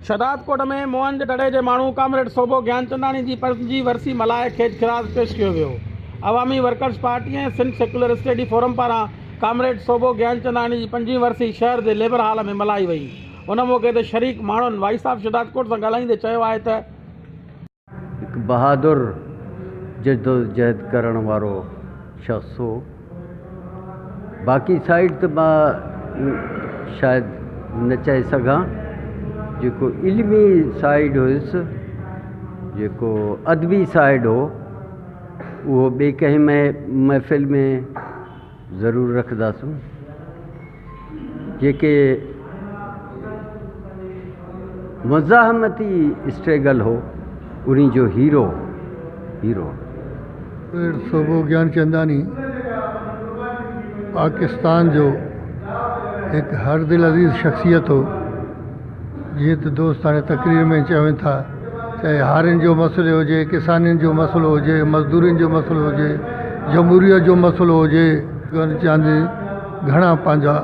شهدادڪوٽ ۾ موهن جي دڙي جي ماڻهو ڪامريڊ سوڀو گيانچنداڻي جي پنجين ورسي ملهائي کيچ خراج پيش ڪيو ويو. Awami workers party ۽ Sindh secular study forum پاران ڪامريڊ سوڀو گيانچنداڻي جي پنجين ورسي شهر جي ليبر هال ۾ ملهائي وئي. ان موقعي تي شريڪ ماڻهن وائيس آف شهدادڪوٽ سان ڳالهائيندي چيو آهي ته. هڪ بهادر جدوجهد ڪرڻ وارو شخص هو. باقي سائيڊ ته مان شايد نه چئي سگهان. جيڪو علمي سائيڊ هيس، جيڪو ادبي سائيڊ هو، اهو ٻي ڪنهن محفل ۾ ضرور رکنداسون جيڪي مزاحمتي اسٽريگل هو انهي جو هيرو هيرو. پير سوڀو گيانچنداني پاڪستان جو هڪ هر دل عزيز شخصيت هو. جيئن ته دوست هاڻي تقرير ۾ چون ٿا چاهي هارين جو مسئلو هجي ڪسانين جو مسئلو هجي مزدورين جو مسئلو هجي جمهوريت جو مسئلو هجي ڪرن چاندي گهڻا پنهنجا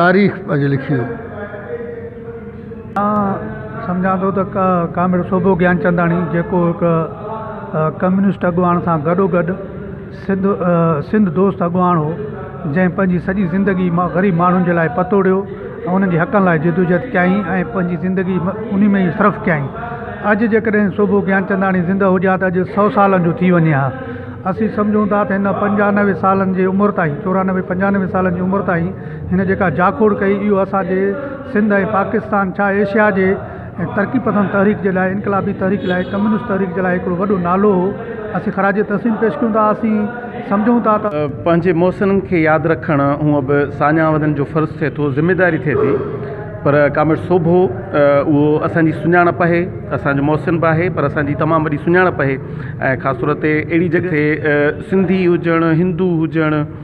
تاريخ پنهنجي لکي ويو آئون سمجهان ٿو ته ڪامريڊ سوڀو گيانچنداڻي جيڪو هڪ ڪميونسٽ اڳواڻ سان گڏو گڏ سنڌ دوست اڳواڻ هو، جنهن پنهنجي سڄي زندگي غريب ماڻهن جي لاء پتوڙيو ۽ انهن جي حقن لاء جدوجهد ڪيائين ۽ پنهنجي زندگي انهي ۾ ئي صرف ڪيائين. اڄ جيڪڏهن سوڀو گيانچنداڻي زندهه هجي ها ته اڄ سؤ سالن جو ٿي وڃي ها. اسين سمجهون ٿا ته هن پنجانوي سالن جي عمر تائين، چورانوي پنجانوي سالن جي عمر تائين هن جيڪا جاکوڙ ڪئي اهو اسان جي سنڌ ۽ پاڪستان ڇا ايشيا جي ۽ ترقي پسند تحريڪ جي لاء انقلابي تحريڪ لاء ڪميونسٽ تحريڪ جي لاء هڪڙو وڏو نالو هو اسين خراج تحسين پيش ڪيون ٿا اسين سمجهون ٿا ته. پنهنجي محسنن کي ياد رکڻ هونء به ساڃاهه وارن جو فرض ٿئي ٿو ذميواري ٿئي ٿي پر ڪامريڊ سوڀو اهو اسان جي سڃاڻپ آهي اسان جو محسن به آهي پر اسان جي تمام وڏي سڃاڻپ آهي ۽ خاص طور تي اهڙي جڳهه تي سنڌي هجڻ هندو هجڻ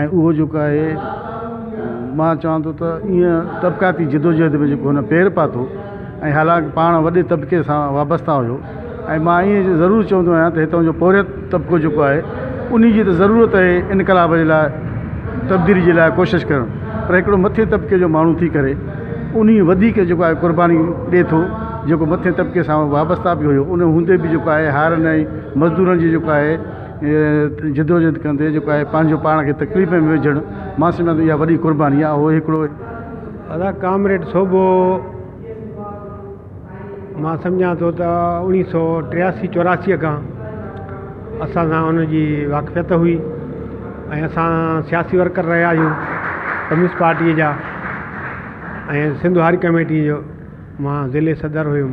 ۽ اهو جيڪو آهي مان چوان ٿو ته ايئن طبقاتي جدوجهد ۾ جيڪو هن پير پاتو ۽ حالانڪ پاڻ وڏي طبقي سان وابستا هيو ۽ مان ايئن جو ضرور چوندو آهيان ته هتان جو پورهيت طبقو جيڪو آهي انهي جي ته ضرورت آهي انقلاب جي لاء تبديلي جي لاء ڪوشش ڪرڻ پر هڪڙو مٿي طبقي جو ماڻهو ٿي ڪري انهي وڌيڪ جيڪو آهي قرباني ڏي ٿو جيڪو مٿي طبقي سان وابستا به هيو ان هوندي به جيڪو آهي هارن ۽ مزدورن جي جيڪو آهي جدوجھد ڪندي جيڪو آهي پنهنجو پاڻ کي تڪليف ۾ وجھڻ مان سمجھان ٿو اها وڏي قرباني آهي اهو هڪڙو ادا ڪامريڊ سوڀو مان سمجھان ٿو ته اوڻيھ سو ٽياسي چوراسي کان اسان سان ان جي واقفيت هئي ۽ اسان سياسي ورڪر رهيا آهيون ڪميونسٽ پارٽي جا ۽ سنڌ هاري ڪميٽي جو مان ضلعي صدر هيم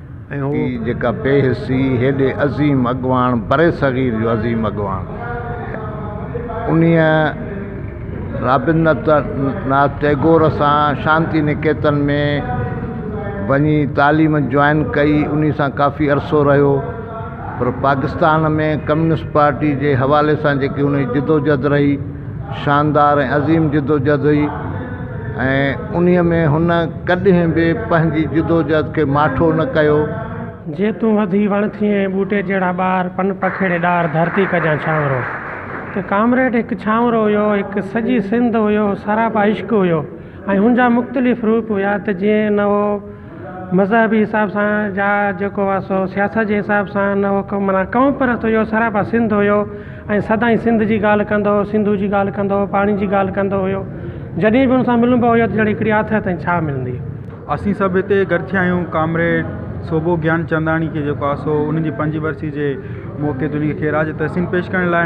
هي جيڪا بي حسي هيڏي عظيم اڳواڻ برصغير جو عظيم اڳواڻ انهي رابندرت ناٿ ٽئگور سان شانتي نڪيتن ۾ وڃي تعليم جوائن ڪئي انهي سان ڪافي عرصو رهيو پر پاڪستان ۾ ڪميونسٽ پارٽي جي حوالي سان جيڪي انهي جدوجھد رهي شاندار ۽ عظيم جدوجهد هئي ۽ انهيء ۾ هن ڪڏهن به پنهنجي جدوجهد کي ماٺو نه ڪيو. جي تون وڌي وڻ ٿئين ۽ ٻوٽي جهڙا ٻار، پن پکيڙي ڏار، ڌرتي ڪجان ڇانورو. ته ڪامريڊ هڪ ڇانورو هيو، هڪ سڄي سنڌ هيو، سراپا عشق هيو ۽ هن جا مختلف روپ هيا ته جيئن نئون مذهبي حساب سان جا جيڪو هئا سو سياست جي حساب سان نه هو ڪم منا قوم پرست هيو سراپا سنڌ هيو ۽ سدائين سنڌ جي ڳالهه ڪندو هو سنڌو جي ڳالهه ڪندو هو پاڻي جي ڳالهه ڪندو هيو جڏهن به ان سان ملبو هيو ته ڄڻ هڪڙي آٿت ۽ ڇا ملندي. اسين سڀ هتي گڏ ٿيا آهيون ڪامريڊ سوڀو گيان چنداڻي کي جيڪو آهي سو ان جي پنج ورسي جي موقعي تي ان کي خيرات جي تحسين پيش ڪرڻ لاء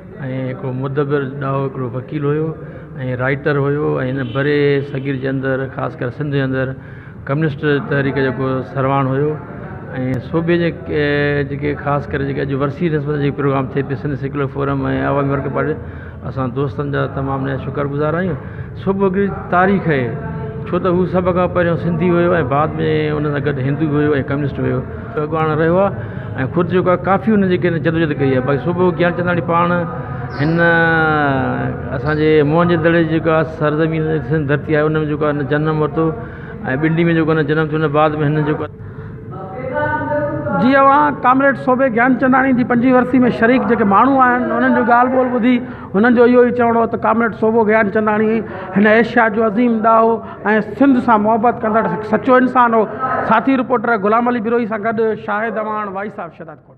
۽ هڪڙو مدبر ڏاهو هڪڙو وڪيل هيو ۽ رائيٽر هيو ۽ هن بري صغير جي اندر خاص ڪري سنڌ جي اندر ڪميونسٽ تحريڪ جيڪو سرواڻ هيو ۽ صوبي جي جيڪي خاص ڪري جيڪي اڄ ورسي نسبت جي پروگرام ٿئي پيو Sindh secular forum ۽ Awami working party اسان دوستن جا تمام نهايت شڪر گذار آهيون صبح هڪڙي تاريخ هي ڇو ته هو سڀ کان پهريون سنڌي هيو ۽ بعد ۾ ان سان گڏ هندو به هيو ۽ ڪميونسٽ به هيو اڳواڻ رهيو آهي ۽ خود جيڪو آهي ڪافي هن جيڪي هن جدوجهد ڪئي آهي باقي صوڀو گيانچنداڻي پاڻ هن اسانجي موهن جو دڙي جيڪو آهي سرزمين هن جي سنڌ ڌرتي آهي ان ۾ جيڪو آهي هن جنم ورتو ۽ ٻنڊي ۾ جيڪو هن جنم ٿيو ان بعد ۾ هن جيڪو آهي جي اوهان ڪامريڊ صوڀي گيانچنداڻي جي پنجين ورسي ۾ شريڪ جيڪي ماڻهو آهن انهن جون ڳالهه ٻولهه ٻڌي هنن جو اهو ئي چوڻو هو ته ڪامريڊ صوڀو گيانچنداڻي هن ايشيا جو عظيم ڏاهو ۽ سنڌ سان محبت ڪندڙ هڪ سچو انسان هو، ساٿي رپورٽر غلام علي بروهي سان گڏ شاهد اعواڻ وائس آف شهدادڪوٽ.